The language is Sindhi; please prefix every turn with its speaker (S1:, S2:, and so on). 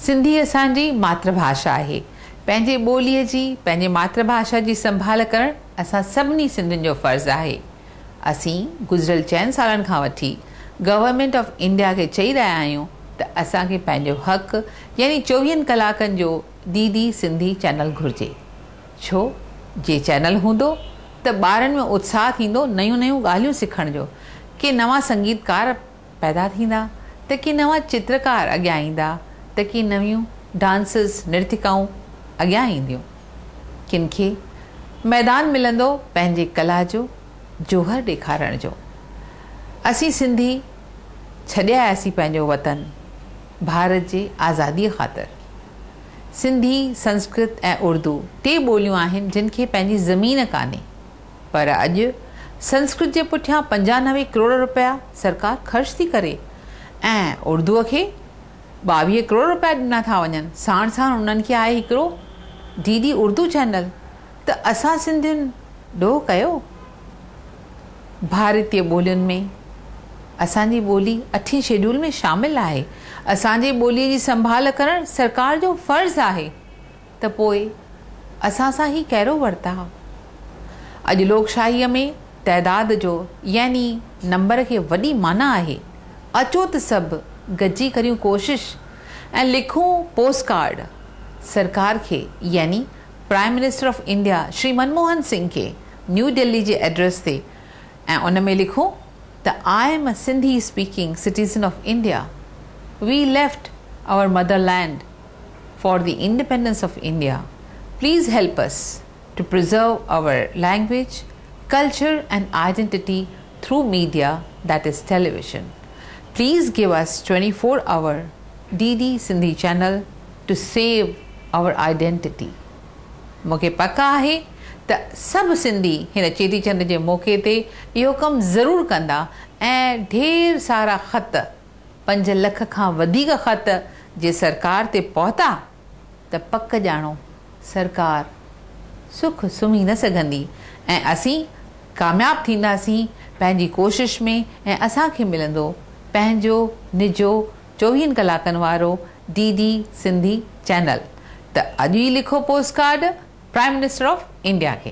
S1: سنڌي اسان جي ماتر ڀاشا آهي. پنهنجي ٻوليء جي، پنهنجي ماتر ڀاشا جي سنڀال ڪرڻ اسان سڀني سنڌين جو فرض آهي. اسين گذريل چئن سالن کان وٺي گورنمينٽ آف انڊيا کي چئي رهيا آهيون ته اسان کي پنهنجو حق يعني چوويهن ڪلاڪن جو ڊي ڊي سنڌي چينل گهرجي. ڇو جي چينل هوندو ته ٻارن ۾ اتساهه ٿيندو نيون نيون ڳالهيون سکڻ جو، ڪي نوان سنگيتڪار، پيدا ٿيندا ته ڪي نوان چترڪار اڳيان ايندا ته ڪي نويون ڊانسز، نرتڪائون اڳيان اينديون. ڪن کي ميدان ملندو پنهنجي ڪلا جو جوهر ڏيکارڻ جو. اسين سنڌي ڇڏي آياسين پنهنجو وطن ڀارت جي آزاديء خاطر. سنڌي، سنسڪرت ۽ اردو ٽي ٻوليون آهن جن کي پنهنجي زمين ڪانهي. پر اڄ سنسڪرت جي پٺيان پنجانوي ڪروڙ روپيا سرڪار خرچ ٿي ڪري ۽ اردوء کي ٻاويهه ڪروڙ روپيا ڏنا ٿا وڃن ساڻ ساڻ انهن کي آهي هڪڙو ڊي ڊي اردو چينل ته اسان سنڌين ڏوهه ڪيو ڀارتي ٻولين ۾ اسان جي ٻولي اٺين شيڊول ۾ شامل آهي اسان جي ٻولي جي سنڀال ڪرڻ سرڪار جو فرض آهي. ته پوء اسان سان هي ڪهڙو ورتاء؟ اڄ لوڪشاهيء ۾ تعداد جو يعني نمبر کي وڏي معنيٰ آهي. اچو ته سڀ گڏجي ڪريون ڪوشش ۽ لکون پوسٽ ڪارڊ سرڪار کي يعني prime minister of India Shri Manmohan Singh کي نيو دهلي جي ائڊريس تي ۽ ان ۾ لکون ته I am a Sindhi speaking citizen of India we left our motherland for the independence of India please help us to preserve our language culture and identity through media that is television please give us twenty four hour D D Sindhi channel to save our identity مون کي پڪ آهي ته سڀ سنڌي هن چيٽي چنڊ جي موقعي تي اهو ڪم ضرور ڪندا ۽ ڍير سارا خط پنج لک کان وڌيڪ خط جي سرڪار تي پهتا ته پڪ ڄاڻو سرڪار سک سمهي نه سگهندي ۽ اسين ڪامياب ٿينداسين پنهنجي ڪوشش ۾ ۽ اسان کي ملندو پنهنجو نجو چوويهن ڪلاڪن وارو ڊي ڊي سنڌي چينل ته اڄ ئي لکو postcard prime minister of India کي.